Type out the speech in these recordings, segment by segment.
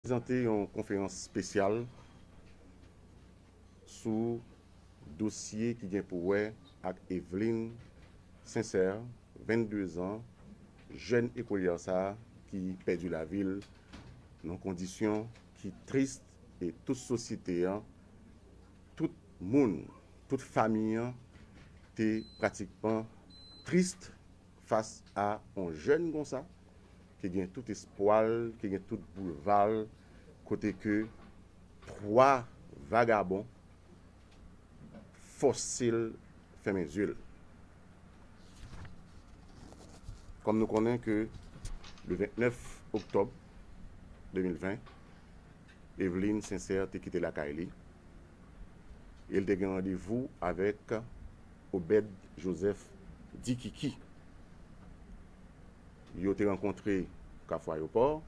prezante yon konferans spesyal sou dosye ki gen pou wè ak Evelyne Sincère, 22 zan, jèn ekolyè sa ki pèdi lavi l nan kondisyon ki tris e tout sosyete an, tout moun, tout fami an te pratikman tris Fas a on jèn konsa, ki gen tout espwa l, ki gen tout boulva l, kote ke 3 vagabon fòse l fèmen zye l. Kòm nou konnen ke le 29 oktòb 2020, Eveline Sincère te kite lakay li e l te gen randevou avèk Obed Joseph di Kiki yo te rankontre Kafou Ayopò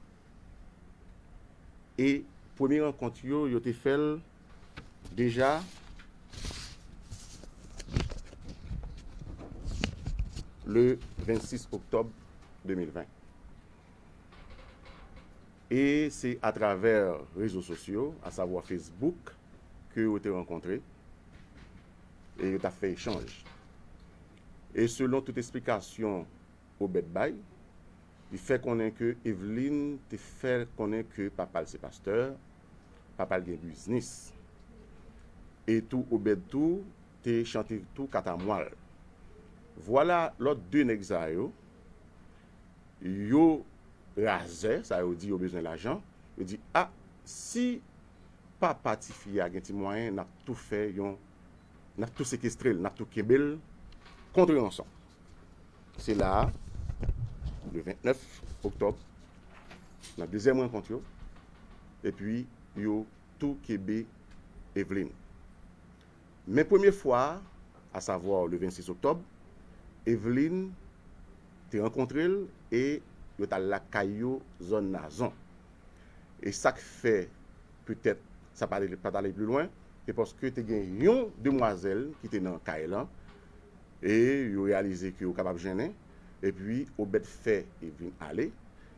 e premye rankont yo, yo te fè l deja le 26 oktòb 2020. E se atravè rezo sosyo, asavwa Facebook, ke yo te rankontre. e yo ta fè echanj. E selon tout esplikasyon Obed bay, li fè konnen ke Eveline te fè l konnen ke papa l se pastè, papa l gen biznis. E tou Obed tou te chante tou katamwa l. Vwala lòt 2 nèg sa yo, yo razè, sa yo di yo bezwen lajan, yo di ah si papa tifi a gen ti mwayen nap tou fè yon nap tou sekestrel nap tou kenbel kontre ranson se la a le 29 oktob nan dezyèm rankont yo epi yo tou kebe Evelyne Men premye fwa a, a savwa le 26 oktòb, Evelyn te rankontre l e yo t al lakay yo zòn Nazon. E sa k fè petèt sa pa t ale pli lwen, se paske te gen yon demwazèl ki te nan kay lan e yo reyalize ke yo kapab jennen. Epi Obed fè Evelyn ale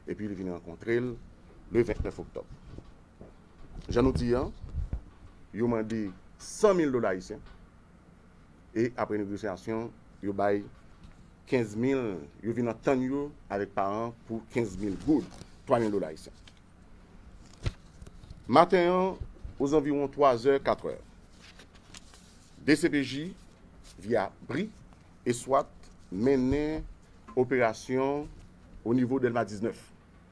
epi li vin rankontre l le 29 oktòb. Jan nou di an, yo mande 100 mil dola ayisyen e apre negosyasyon yo bay 15 mil, yo vin antann yo avèk paran an pou 15 mil goud, 3 mil dola ayisyen. Maten an, ozanviwon 3 zè, 4 è, dcpj, via bri, e swat mennen operasyon o nivo Dèlma 19.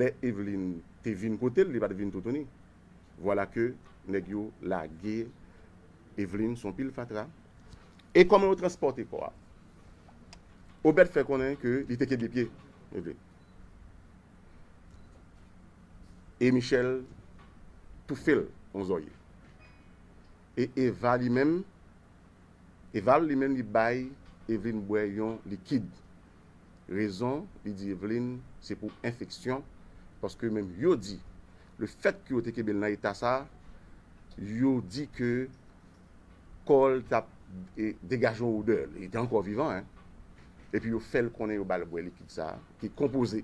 Lè Eveline te vin kote l, li pa t vin toutouni. Vwala ke nèg yo lage Eveline sou yon pil fatra. E kòman yo transpòte kò a? Obed fè konnen ke li te kenbe pye Eveline. E Michel toufe l yon zòrye. E Eva li menm, Eval li menm li bay Eveline bwè yon likid. Rezon li di Eveline se pou enfeksyon paske menm yo di le fèt ke yo te kenbe l nan eta sa yo di ke kò l t ap degaje yon odè, li te ankò vivan hein, epi yo fè l konnen yo ba l bwè likid sa ki konpoze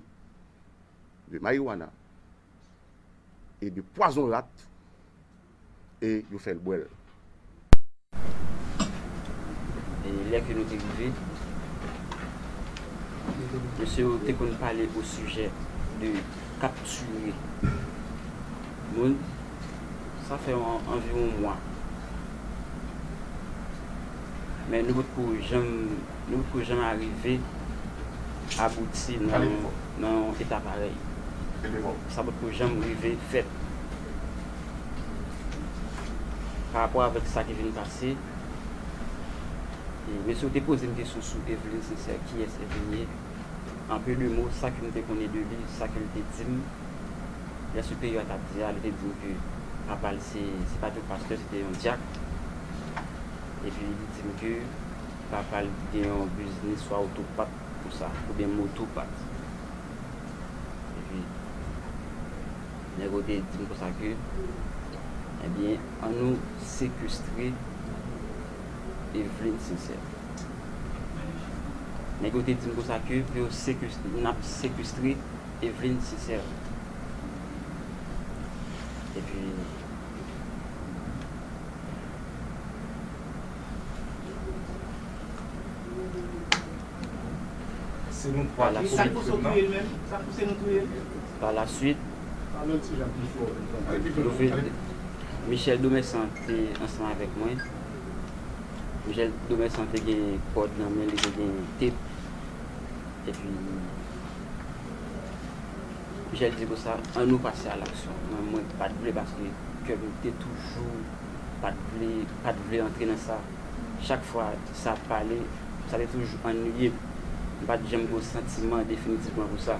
de marijuana e de pwazon rat. e yo fè l bwè l. E lè ke nou te rive, mesye yo te konn pale osijè de kaptire moun. Sa fè anviwon mwa. Men nou potko janm, nou potko janm arive abouti nan yon eta parèy. Sa potko janm rive fèt. Pa rapò avèk sa ki vin pase, men si w te poze m kesyon sou Evelyne Sincère, kiyès Evelyne ye? En peu de mots, sa ke m te konnen de li, sa ke l te di m, lè se peyi yo a t ap di a, li te di m ke papa l se, se pa te yon pastè, se te yon dyak. Epi li di m ke papa l te gen yon biznis swa oto pat konsa, oubyen moto pat. Epi. Nèg yo te di m konsa ke, Ebyen, an nou sekestre Evelyne Sincère. Nèg yo te di m konsa ke pou yo sekestre, n ap sekestre Evelyne Sincère. Epi, Se nou 3 ki komèt krim nan? Pa la suit, Michel Domerçant te ansanm avèk mwen. Michel Domerçant te gen kòd nan men li, te gen tep. E pi, Michel di konsa, an nou pase a laksyon. Men mwen pa t vle paske kè m te toujou pa t vle, pa t vle antre nan sa. Chak fwa sa ap pale, sa te toujou annuiye m. M pa t janm gen yon santiman definitivman pou sa.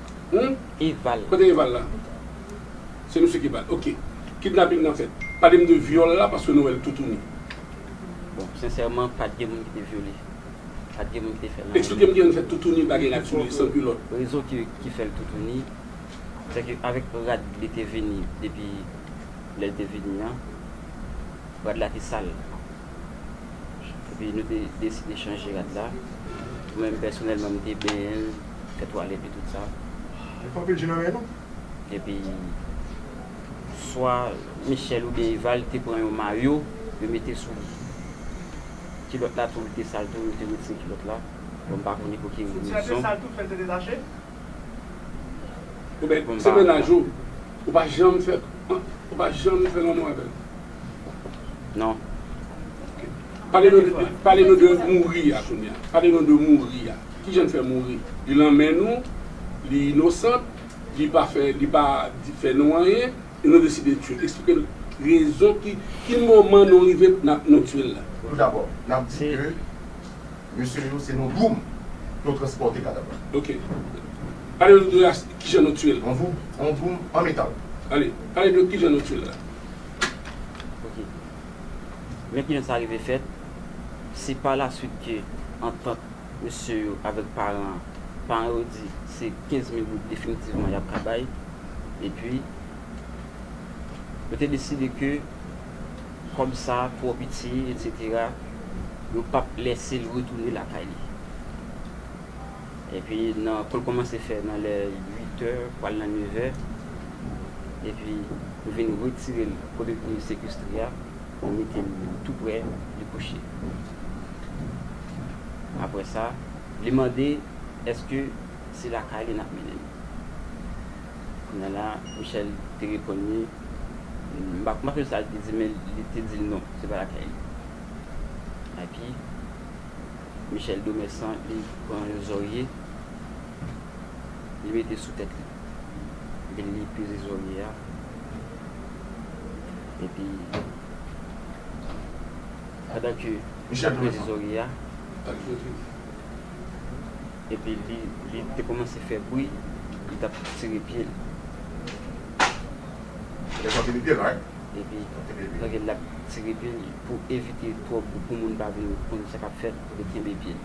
Hum? Eval. Kote Eval la? Se misye ki bal. Ok. Kidnaping nan fèt. Pale m de vyòl la paske nou wè l toutouni. Bon, sensèman pat gen moun ki te vyole. Pat gen moun ki te fè l anyen. Eksplike m kijan n fè toutouni pa gen rad sou li, san kilòt. Rezon ki fè l toutouni, se ke avèk rad li te vini depi lè l te vini an, rad la te sal. Epi nou te deside chanje rad la. Mwen menm pèsonèlman m te benyen l. Tèt ou ale epi tout sa. Li pran pil je nan men nou. Epi swa Michel oubyen Eva li te pran yon mayo yo mete sou li. Kilòt la tou li te sal tou yo te retire kilòt la. Bon m pa konnen pou ki rezon. Senti a te sal tou fèl te detache? Oubyen se mennaj ou? Ou pa janm fè ou pa janm fè lanmou avèl? Non. Ok. Pale nou de mouri a kounya. Pale nou de mouri a. Kijan n fè mouri? Li lan men nou, li inosant, li pa fè, li pa fè nou anyen, e nou deside tye l. Eksplike n rezon ki, ki moman nou rive pou nap, nou tye l la. Tou dabò, nap di ke mesye yo se nan dwoum yo transpòte kadav la. Ok. Pale nou de as, kijan nou tye l. Yon dwoum, yon dwoum an metal. Ale, pale de kijan nou tye l la. Ok. Men kijan sa rive fèt, se pa la swit ke antant mesye yo avèk paran an. Paran yo di se 15 mil goud definitivman y ap ka bay. Epi, yo te deside ke kòb sa a twò piti, etsetera, yo p ap lèse l retounen lakay li. Epi, nan kou l kòmanse fè nan lè uitè, pral nan nevè, epi yo vin retire l kote l te sekestre a. Ou mete l tou prè li kouche. Apre sa, li mande èske se lakay li n ap mennen l. Kounya la, Michèl te reponn li, m pa konn sa li te di men li te di l non, se pa lakay li. Epi, Michèl Domèsan li pran yon zòrye, li mete sou tèt li. Epi li peze zòrye a. Epi, pandan ke li tap peze zòrye a, epi li te kòmanse fè bri, li tap tire pye l. Epi, pandan ke lap tire pye l, pou evite twòp bri, pou moun pa vin konn sa kap fèt, li kenbe pye l.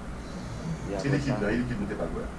Epi apre sa.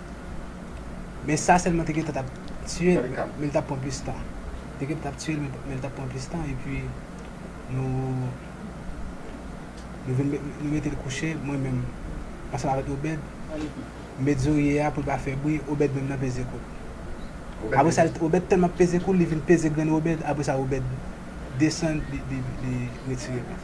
Men sa sèlman te gentan tap tiye l men li tap pran plis tan. Te gentan tap tiye l men li tap pran plis tan epi nou nou vin nou mete l kouche mwen menm ansanm avèk Obed m met zorye a pou l pa fè bri Obed menm nan peze kou l. Apre sa Obed tèlman ap peze kou l li vin peze grenn Obed apre sa Obed desann li retire l.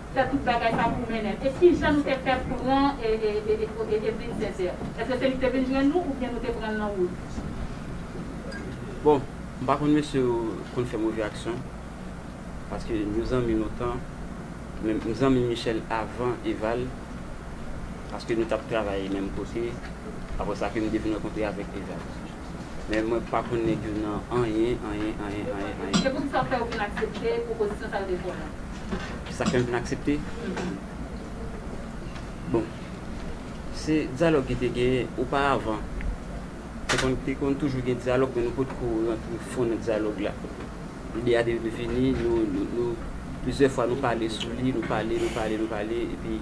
fè tout bagay pa pou Menem e kijan nou te fè pran Evelyne Sincère eske se li ki te vin jwenn nou oubyen nou te pranl nan wout. Bon m pa konn mesye yo konn fè move aksyon paske nou zanmi lontan men m zanmi Michel avan Eval paske nou tap travay menm kote aprè sa ke m te vin rankontre avèk Eval. Men mwen pa konn nèg yo nan anyen, anyen, anyen, anyen, anyen. Se poukisa fè ou vin aksepte pwopozisyon sa yo de Paul lan? Sa k fè m vin aksepte? Bon, se dyalòg ki te genyen oparavan. Te konn toujou gen dyalòg men nou potko rantre fon nan dyalòg la. Ide a te vin vini, nou, nou, nou, plizyè fwa nou pale sou li, nou pale, nou pale, nou pale epi.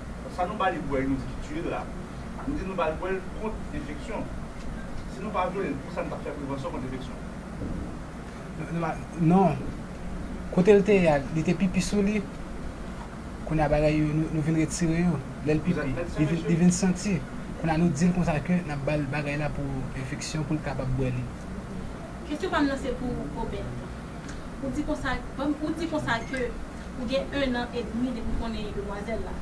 Sa nou ba li bwè yo di ki tiye l la, nou di nou ba l bwè l kont enfeksyon. Si nou pa vyole l pou sa nou tap fè prevansyon kont enfeksyon. Non. Kote l te ye a li te pipi sou li. Kounye a bagay yo nou vin retire yo. Lè l pipi li vin santi. Kounye a nou di l konsa ke nap ba l bagay la pou enfeksyon pou l kapab bwè li. Kesyon pa m nan se pou Obed. Ou di konsa ke. Ou gen 1 an edmi depi w konnen demwazèl la.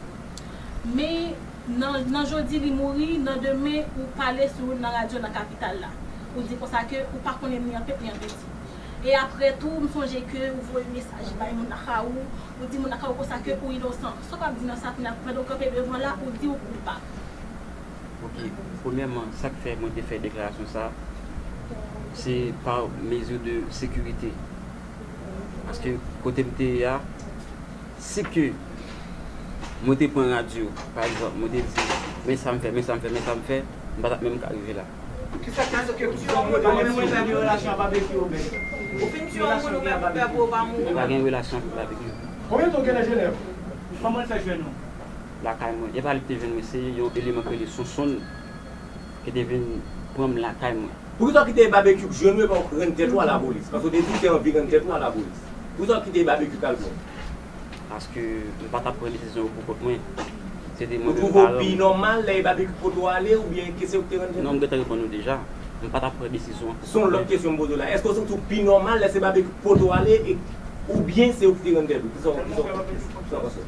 Men nan nan jodi li mouri, nan demen ou pale sou l nan radyo nan kapital la. Ou di konsa ke ou pa konnen ni an pèt ni an piti. E aprè tou m sonje ke ou voye mesaj bay moun ak a ou, ou di moun ak a ou konsa ke ou inosan. Sa w ap di nan sa kounya pandan w kanpe devan la ou di ou koupab? Ok, premyèman sa k fè mwen te fè deklarasyon sa, se pa mezi de sekirite. Paske kote m te ye a, si ke mwen te pran radyo, pa egzanp, mwen te di, men sa m fè, men sa m fè, men sa m fè, m pa t ap menm ka rive la. Ki sa k te fè ke ou pa vle pale sou radyo a menm? Mwen pa gen relasyon avèk Babekyou. Konbyen tan ou genlè Jenèv? Kòman l fè jwenn ou? Lakay mwen. E pa li k te jwenn mwen, se yon eleman k rele Sonsonn. Yo te vin pran m lakay mwen. Poukisa w kite Babekyou k jwenn ou epa w k rann tèt ou a lapolis? Paske w te di w te anvi rann tèt ou a lapolis. Poukisa w kite Babekyou k al pran w? Paske m pa t ap pran desizyon yo poukont mwen. Se te mwen menm paran m. Ou twouve w pi nòmal lè e Babekyou k pote w ale oubyen kese ou k te rann tèt ou? Non, m gentan reponn ou deja. M pa t ap pran desizyon an poukont mwen. Se yon lòt kesyon m poze w la. Èske w santi w pi nòmal lè se Babekyou k pote w ale e oubyen se ou ki te rann tèt ou? Kisa w panse?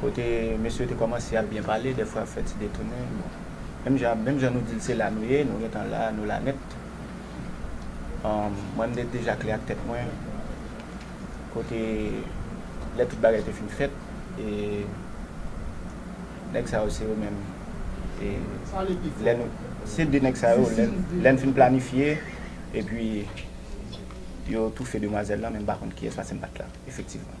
kote mesye yo te kòmanse ap byen pale, dèfwa ap fè ti detounen, bon, menm jan, menm jan nou di l se la nou ye, nou gen tan la, nou la nèt. Mwen m te deja klè ak tèt mwen, kote lè tout bagay te fin fèt, e nèg sa yo se yo menm, e lè nou, se de nèg sa yo, lè n fin planifye, epi yo toufe demwazèl lan, men m pa konn kiyès paske m pa t la, efektivman.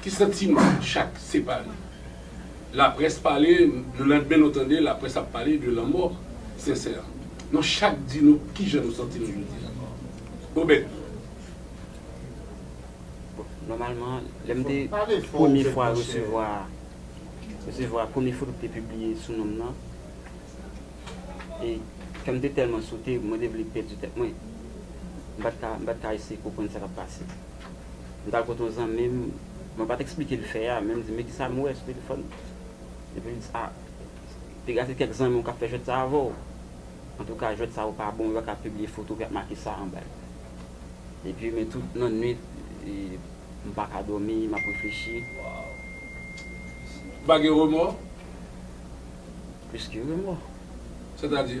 Ki santiman chak separe. Laprès pale, le landmen nou tande laprès ap pale de lanmò Sensè. Nou chak di nou ki jan nou santi nou jodi a. Obed. Bon, nòmalman, lè m te premye fwa resevwa, resevwa premye foto ki te pibliye sou non m nan, e kè m te tèlman sote, mwen te vle pèdi tèt mwen. M pa t ka, m pa t ka eseye konprann sa k ap pase. M t al kote yon zanmi m, mwen pa t eksplike l fè a, men m di, Men kisa m wè sou telefòn. Epi l di, A, te ka se kèk zanmi w k ap fè jwèt sa a avè w. Antouka, jwèt sa yo pa bon, yo pa ka pibliye foto epi y ap make sa anba yo. Epi, men tout nan nuit, m pa ka dòmi, m ap reflechi. Ou pa gen remò? Plis ke remò. Sètadi?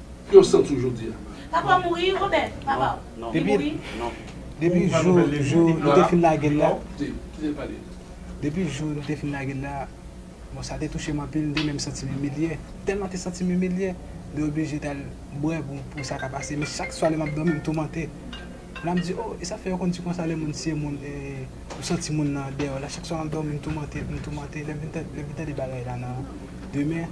Yo santi w jodi a. Papa w mouri Robert? Papa w. Li mouri? Non. Depi jou jou nou te fin lage l la. Kite l pale. Depi jou nou te fin lage l la. Bon sa te touche m anpil m te menm santi m imilye. Tèlman m te santi m imilye. M te oblije t al bwè pou sa ka pase. Men chak swa lè m ap dòmi m toumante. La m di o e sa fè yo konn di konsa lè moun siye moun e ou santi moun nan deyò la. Chak swa m ap dòmi m toumante m toumante. Lè m vin tande bagay la nan demen.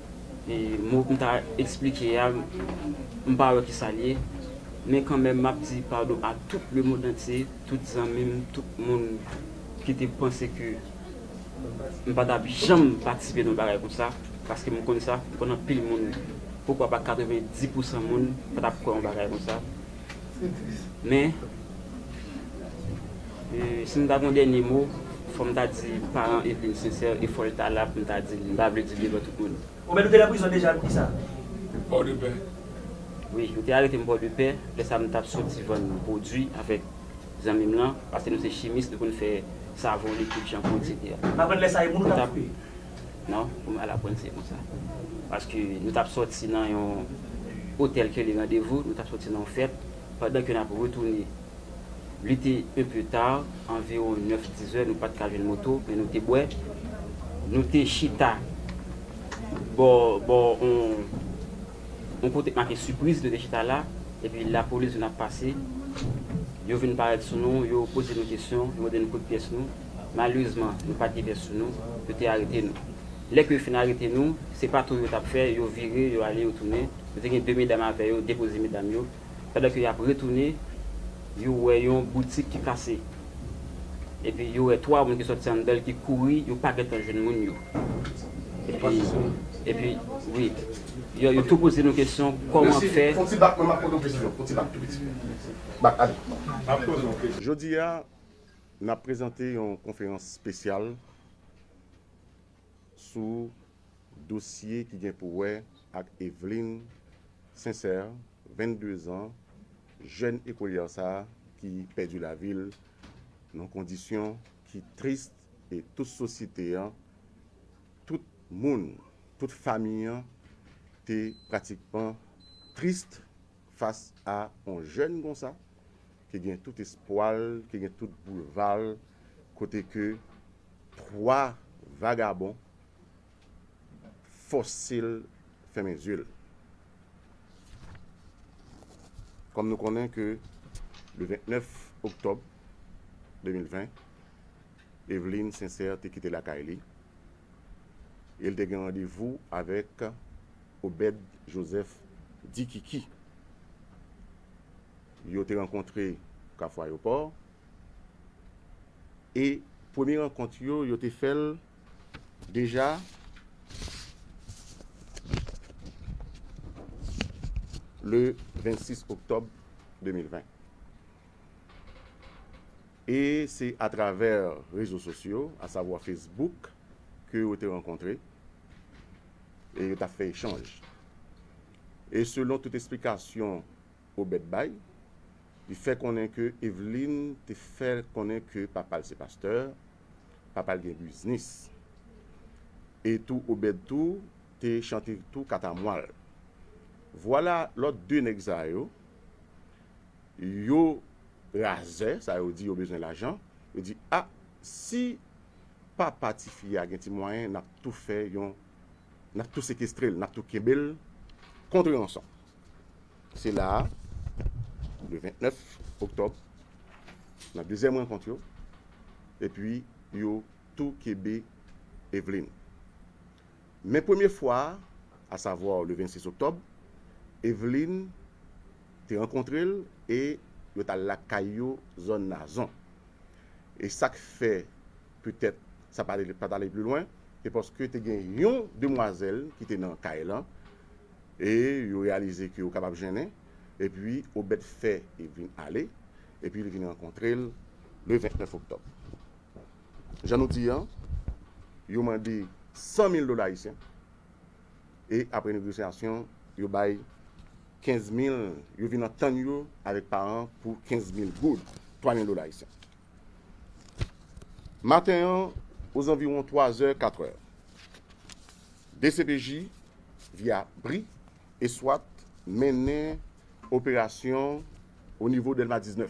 Mo m ta esplike a, m pa wè ki sa l ye. Men kanmenm m ap di padon a tout lemondantye, tout zanmi m, tout moun ki te panse ke m pa t ap janm patisipe nan yon bagay konsa. Paske m konn sa, m konn anpil moun, poukwa pa 90 pousan moun pa t ap kwè yon bagay konsa. Men, si m ta gen yon dènye mo, fò m ta di paran Evelyne Sincère e fò l ta la pou m ta di l. M pa vle di l devan tout moun. Ou menm nou te nan prizon deja nan ki sa? Pòdepè. Wi, yo te arete m Pòdepè. Lè sa a m t ap soti vann pwodui avèk zanmi m lan, paske nou se chimis, nou konn fè savon, likid, chanpou, eksetera. M aprann lè sa a e moun ou t ap koupe? Non, ou mal aprann se konsa. Paske nou tap sòti nan yon otèl kele randevou, nou tap sòti nan yon fèt, pandan ke nap retounen li te un peu tard, anviron 9, 10 zè, nou pat ka jwenn moto, men nou te bwè, nou te chita bò bò on on kote k make sipriz, nou te chita la, epi lapolis vin ap pase, yo vin parèt sou nou, yo poze nou kesyon, yo mande nou kote pyès nou. Malerezman, nou pa t gen bèf sou nou, yo te arete nou. Lè ke yo fin arete nou, se pa tou yo t ap fè, yo vire, yo ale, yo tounen. Yo te gen de medam avè yo, depoze medam yo. Pandan ke y ap retounen, yo wè yon boutik ki kase. Epi yo wè twa moun ki sòti anndan l ki kouri, yo pa gen tan jwenn moun yo. Epi, epi, wi. Yo, yo tou poze nou kesyon, kòman fè. Jodi a, N ap prezante yon konferans spesyal sou dosye ki gen pou wè ak Evelyne Sincère, 22 zan, jèn ekolyè sa a ki pèdi lavi l nan kondisyon ki tris e tout sosyete an, tout moun, tout fami an te pratikman tris. Fas a on jèn konsa, ki gen tout espwa l, ki gen tout boulva l, kote ke 3 vagabon fòse l fèmen zye l. Kòm nou konnen ke le 29 oktòb 2020, Evelyne Sincère te kite lakay li e l te gen randevou avèk Obed Joseph di Kiki yo te rankontre Kafou Ayopò e premye rankont yo, yo te fè l deja le 26 oktòb 2020. E se atravè rezo sosyo, asavwa Facebook, ke yo te rankontre. e yo ta fè echanj. E selon tout esplikasyon Obed bay, li fè konnen ke Eveline te fè l konnen ke papa l se pastè, papa l gen biznis. E tou Obed tou te chante tou katamwa l. Vwala lòt 2 nèg sa yo, yo razè, sa yo di yo bezwen lajan, yo di ah si papa tifi a gen ti mwayen nap tou fè yon nap tou sekestrel nap tou kenbel kontre ranson se la a le 29 oktob nan dezyèm rankont yo epi yo tou kebe Evelyne Men premye fwa a, a savwa le 26 oktòb, Evelyn te rankontre l e yo t al lakay yo zòn Nazon. E sa k fè petèt sa pa t ale pli lwen, se paske te gen yon demwazèl ki te nan kay lan e yo reyalize ke yo kapab jennen. Epi Obed fè Evelyn ale epi li vin rankontre l le 29 oktòb. Jan nou di an, yo mande 100 mil dola ayisyen e apre negosyasyon yo bay 15 mil, yo vin antann yo avèk paran an pou 15 mil goud, 3 mil dola ayisyen. Maten an, ozanviwon 3 zè, 4 è, dcpj, via bri e swat mennen operasyon onivo Dèlma 19.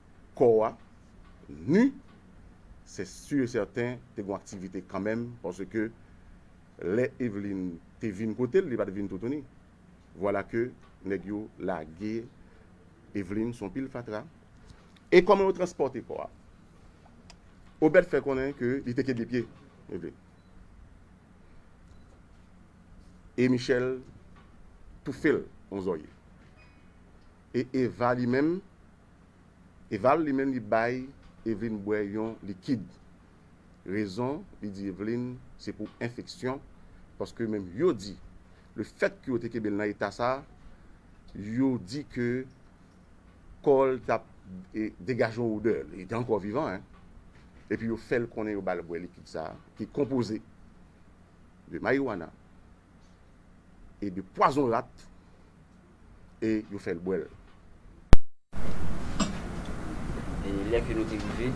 kò a nu se sur et certain te gon aktivite kanmenm paske lè Eveline te vin kotel li pat vin toutouni vwala ke nèg yo lage Eveline son pil fatra e kòman yo transpòte kò a Obed fè konnen ke li te kenbe pye Eveline e Michel toufel on zòrye E Eva li menm? Eval li menm li bay Evelyne bwè yon likid. Rezon li di Evelyne se pou enfeksyon paske yo menm yo di le fèt ke yo te kenbe l nan eta sa yo di ke kò l t ap degaje yon odè, li te ankò vivan hein, epi yo fè l konnen yo ba l bwè likid sa ki konpoze de marijuana. e de pwazon rat e yo fè l bwè l. E lè ke nou te rive,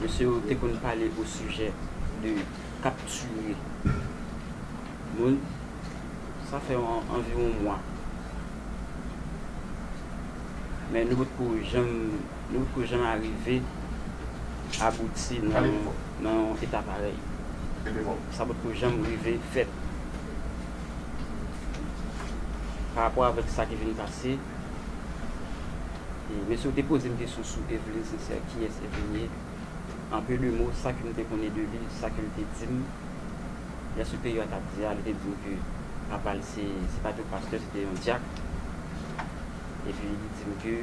mesye yo te konn pale osijè de kaptire moun, sa fè anviwon mwa, men nou potko janm. Nou pko janm arive abouti nan yon eta parèy. Sa potko janm rive fèt. Parapò avèk sa ki vin pase, mesye ou te poze m kesyon sou Evelyne Sincère, kiyès Evelyne ye? An peu de mots, sa ke m te konnen de li, sa ke l te di m, lè Superior a t ap di a, li te di m ke papa l se pa te yon pastè, se te yon dyak. Epi li di m ke.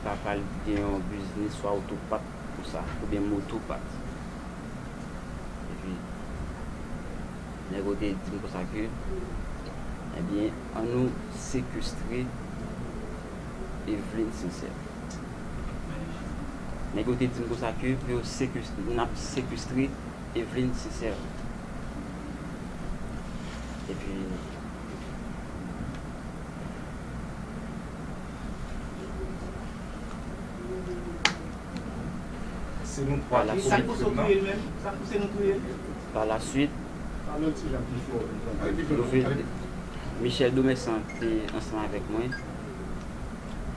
Papa l gen yon biznis sou awtopat pou sa, oubyen motopat. Epi, nèg yo te di m konsa ke, Ebyen, an nou sekestre Evelyne Sincère. Nèg yo te di m konsa ke pou yo sekestre, n ap sekestre Evelyne Sincère. Epi. Pa la swit, Michel Domerçant te ansanm avèk mwen.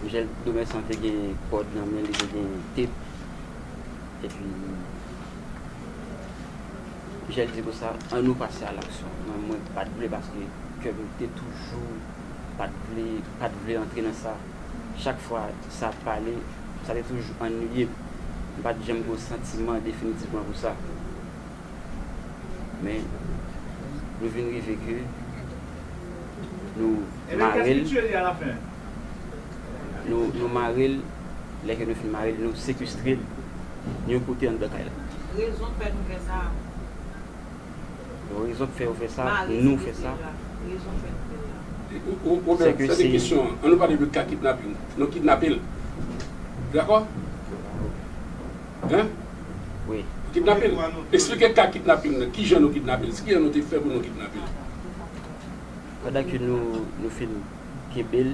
Michel Domerçant te gen kòd nan men li, te gen tep. Epi, Michel di konsa, an nou pase alaksyon. Mwen pa t vle paske kè m te toujou. pat vle pat vle antre nan sa. Chak fwa sa ap pale, sa te toujou annuiye m. M pat janm gen yon santiman definitivman pou sa. Men, nou vin rive ke nou mare l, nou nou mare l, lè ke nou fin mare l, nou sekestre l yon kote anndan kay la. Rezon fè nou fè sa a. Yo rezon k fè yo fè sa, nou fè sa. Ou mèt fè de kesyon an nou pale de ka kidnaping nou kidnape l dakò hein kidnape l esplike ka kidnaping nan kijan nou kidnape l kijan nou te fè pou nou kidnape l. Pandan ke nou fin kenbe l.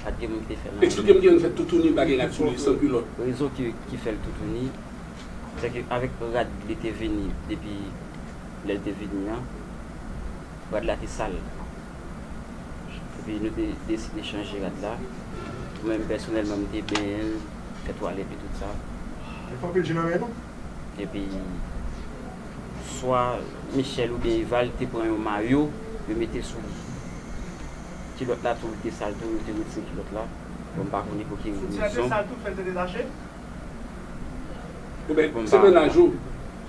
Eksplike m kijan nou fè toutouni pa gen rad sou li san kilòt. Rezon ki fè l toutouni se ke avèk rad li te vini depi lè l te vini an, rad la te sal. Epi nou te deside chanje rad la. Mwen menm pèsonèlman m te benyen l, fè twalèt li tout sa. Epi swa Michel oubyen Eval te pran yon mayo yo mete sou li. Kilòt la tou te sal tou yo te retire kilòt la bon m pa konnen pou ki rezon. Sitirè te sal tou fèl te detache. Ou bèl bon m pa menaj ou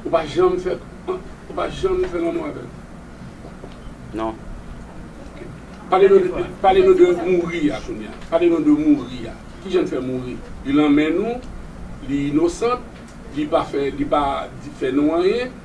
ou pa janm fè ou pa janm fè lanmou avèl. Non. Ok pale nou de pale nou de mouri a kounya pale nou de mouri a kijan l fè mouri li lanmen nou li inosant li pa fè li pa fè nou anyen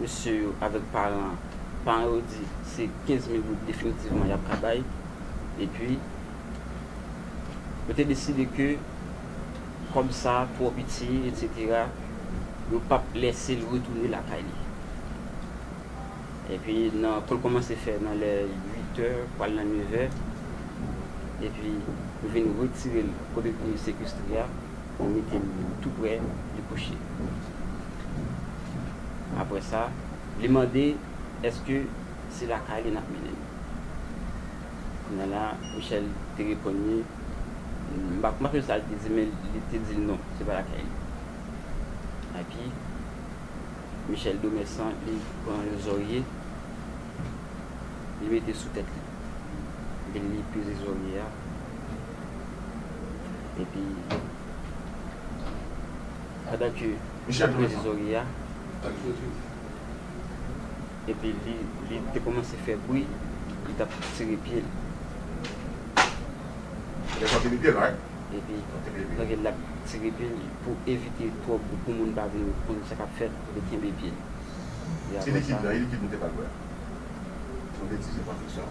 Mesye yo avèk paran an. Paran yo di se 15 mil goud definitivman y ap ka bay. Epi, yo te deside ke kòb sa a twò piti etsetera, yo p ap lèse l retounen lakay li. Epi, nan kou l kòmanse fè nan lè uitè pral nan nevè, epi yo vin retire l kote l te sekestre a. Ou mete l tou prè dikouche. Apre sa, li mande èske se lakay li n ap mennen l. Kounya la, Michèl te reponn li, m pa sonje sa l te di men li te di l non, se pa lakay li. Epi, Michèl Domèsan li pran yon zòrye, li mete sou tèt li. Epi, li peze zòrye a. Epi, pandan ke li te peze zòrye ya, epi li te kòmanse fè bwi, li tap tire pye li. Epi, pandan ke lap tire pye li, pou evite twòp bwi, pou moun pa vin konn sa kap fèt, li kenbe pye li. Epi apre sa.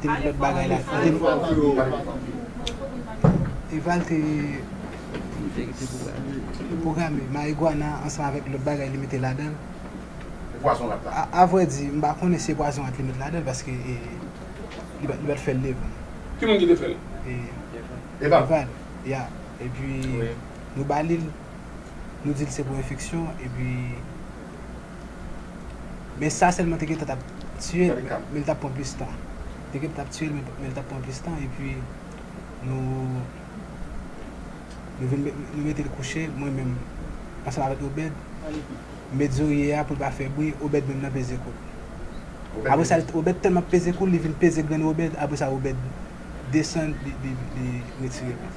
Te met lòt bagay la. Kote nou pral voye yo a? Eval te pwograme marijuana ansanm avèk lòt bagay li mete ladan l. E pwazon rat la? A vrè di, m pa konnen si e pwazon rat li met ladan l paske li pa t fè l devan m. Ki moun ki te fè l? Eval. Eval, ya. Epi nou ba li l, nou di l se pou enfeksyon epi. Men sa sèlman te gentan tap tiyel men li tap pran plis tan. Te gentan tap tiyel men li tap pran plis tan epi nou nou vin nou metel kouche mwen menm ansanm avèk Obed m met zorye a poul pa fè bri Obed menm nan peze koul. Apre sa Obed tèlman ap peze koul li vin peze grenn Obed apre sa Obed desann li retire l.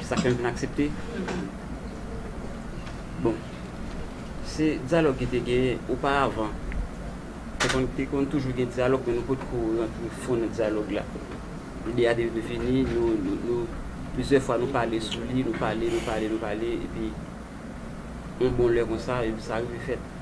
Se sak fè m vin aksepte. Bon, se dyalòg ki te genyen oparavan. Te konn toujou gen dyalòg men nou potko rantre fon nan dyalòg la. Ide a te vini, nou, plizyè fwa nou pale sou li, nou pale, nou pale, nou pale epi yon bon lè konsa, epi sa rive fèt.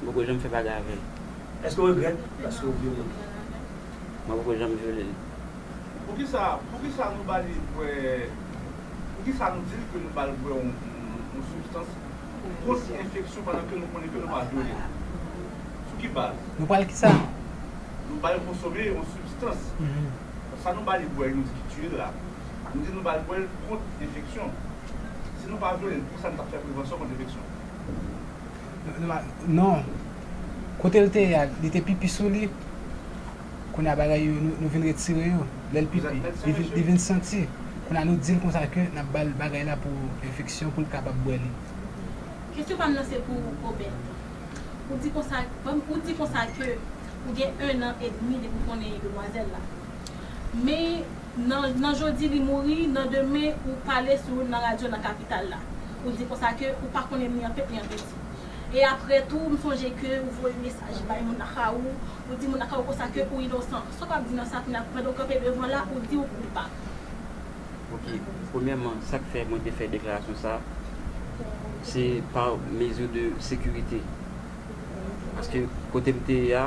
M poko janm fè bagay avè l. Èske w regrèt paske w vyole l? Mwen poko janm vyole l. Poukisa poukisa nou ba li bwè poukisa nou di l ke nou ba l bwè yon yon sibstans kont enfeksyon pandan ke nou konnen ke nou pa vyole l? Sou ki baz? Nou ba l kisa? Nou ba l konsome yon sibstans. Sa nou ba li bwè nou di ki tiye l la, nou di nou ba l bwè l kont enfeksyon. Si nou pa vyole l, poukisa nou t ap fè prevansyon kont enfeksyon? Non Kote l te ye a li te pipi sou li Kounye a bagay yo nou vin retire yo Lè l pipi li vin santi Kounye a nou di l konsa ke n ap ba l bagay la pou enfeksyon pou l kapab bwè li Kesyon pa m nan se pou Obed Ou di konsa Ou di konsa ke ou gen 1 an edmi depi w konnen demwazèl la Men Nan nan jodi li mouri, nan demen ou pale sou nan radyo nan kapital la. Ou di konsa ke ou pa konnen ni an pete ni an piti. E aprè tou m sonje ke ou voye mesaj bay moun ak a ou, ou di moun ak a ou konsa ke ou inosan. Sa w ap di nan sa kounya pandan ou kanpe devan la ou di ou koupab? Ok, premyèman sa k fè mwen te fè deklarasyon sa a se pa mezi de sekirite. Paske kote m te ye a.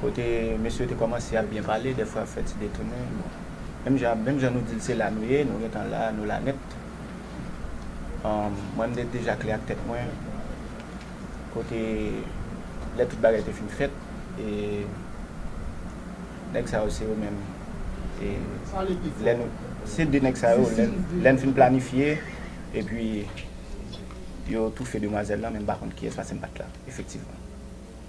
kote mesye yo te kòmanse ap byen pale, dèfwa ap fè ti detounen, bon, menm jan, menm jan nou di l se la nou ye, nou gen tan la, nou la nèt, mwen m te deja klè ak tèt mwen, kote lè tout bagay te fin fèt, e nèg sa yo se yo menm, e lè nou, se de nèg sa yo, lè n fin planifye, epi yo toufe demwazèl lan, men m pa konn kiyès paske m pa t la, efektivman.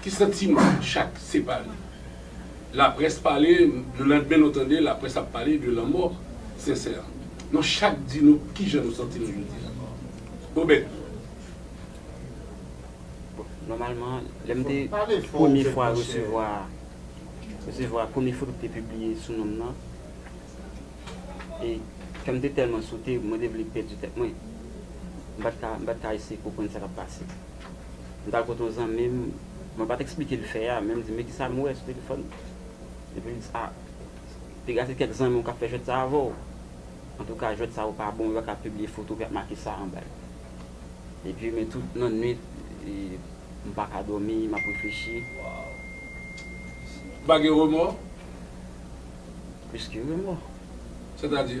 Ki santiman chak separe. Laprès pale le landmen nou tande laprès ap pale de lanmò sensè a. Nou chak di nou kijan nou santi nou jodi a. Obed. Bon, nòmalman lè m te premye fwa resevwa resevwa premye foto ki te pibliye sou non m nan e kè m te tèlman sote mwen te vle pèdi tèt mwen. M pa t ka m pa t ka eseye konprann sa k ap pase. M t al kote yon zanmi m, mwen pa t eksplike l fè a, men m di, Men kisa m wè sou telefòn. Epi l di, A, piga se kèk zanmi w k ap fè jwèt sa avè w. Antouka, jwèt sa yo pa bon, yo pa ka pibliye foto epi y ap make sa anba yo. Epi, men tout nan nuit, m pa ka dòmi, m ap reflechi. Ou pa gen remò? Plis ke remò. Sètadi?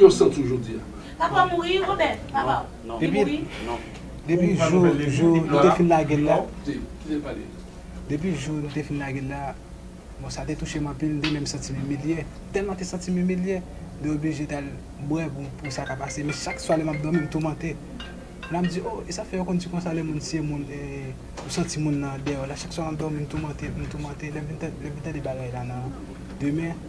Yon sant sou jodi a. Papa w mouri, Robert? Papa w. Non. Li mouri? Non. Depi jou jou nou te fin lage l la. Non. Kite l pale. Depi jou nou te fin lage l la. Bon, sa te touche m anpil. M te menm santi m imilye. Tèlman m te santi m imilye. M te oblije t al bwè pou sa ka pase. Men chak swa lè m ap dòmi, m toumante. La m di, o, e sa fè yo konn di konsa lè moun siye moun e ou santi moun nan deyò la. Chak swa m ap dòmi, m toumante, m toumante. Lè m vin tande bagay la nan demen.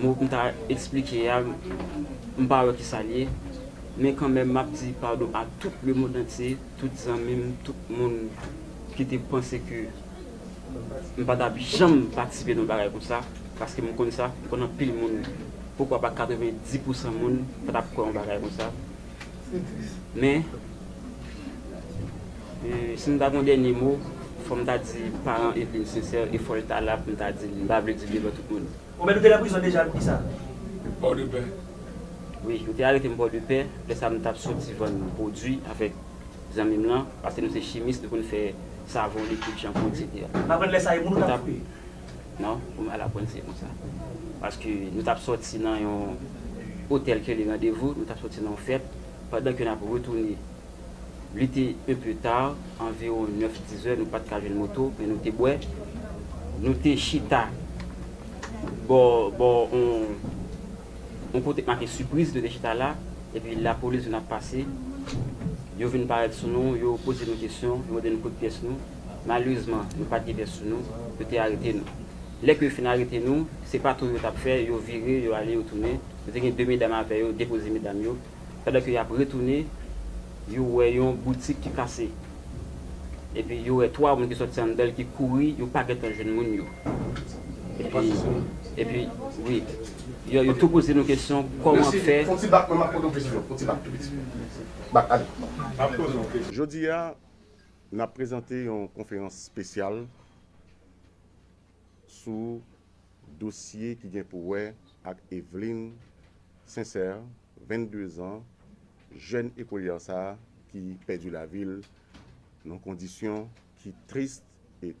Mo m ta esplike a, m pa wè ki sa l ye. Men kanmenm m ap di padon a tout lemondantye, tout zanmi m, tout moun ki te panse ke m pa t ap janm patisipe nan yon bagay konsa. Paske m konn sa, m konn anpil moun, poukwa pa 90 pousan moun, pa t ap kwè yon bagay konsa. Men, si m ta gen yon dènye mo, fò m ta di paran Evlin sensè e fò l ta la pou m ta di l. M pa vle di l devan tout moun. Ou menm ou te nan prizon deja pou kisa? Pòdepè. Wi, yo te arete m Pòdepè. Lè sa a m t ap soti vann pwodui avèk zanmi m lan, paske nou se chimis, nou konn fè savon, likid, chanpou, eksetera. M aprann lè sa a e moun ou t ap koupe? Non ou mal aprann se konsa. Paske nou tap sòti nan yon otèl ke li randevou, nou tap sòti nan yon fèt, pandan ke nap retounen li te un peu tard, anviron 9, 10 è nou pat ka jwenn moto men nou te bwè, nou te chita bò bò on on kote k make sipriz nou te chita la, epi lapolis vin ap pase, yo vin parèt sou nou, yo poze nou kesyon, yo mande nou kout pyès nou. Malerezman, nou pa t gen pès sou nou, yo te arete nou. Lè ke yo fin arete nou, se pa tou yo t ap fè, yo vire, yo ale, yo tounen. Yo te gen de medam avè yo, depoze medam yo. Pandan ke y ap retounen, yo wè yon boutik ki kase. Epi yo wè twa moun ki sòti anndan l ki kouri, yo pa gen tan jwenn moun yo. Epi, epi, wi. Yo, yo tou poze nou kesyon, kòman fè. Jodi a, N ap prezante yon konferans spesyal sou dosye ki gen pou wè ak Eveline Sincère, 22 zan, jèn ekolyè sa ki pèdi lavi l nan kondisyon ki trist e.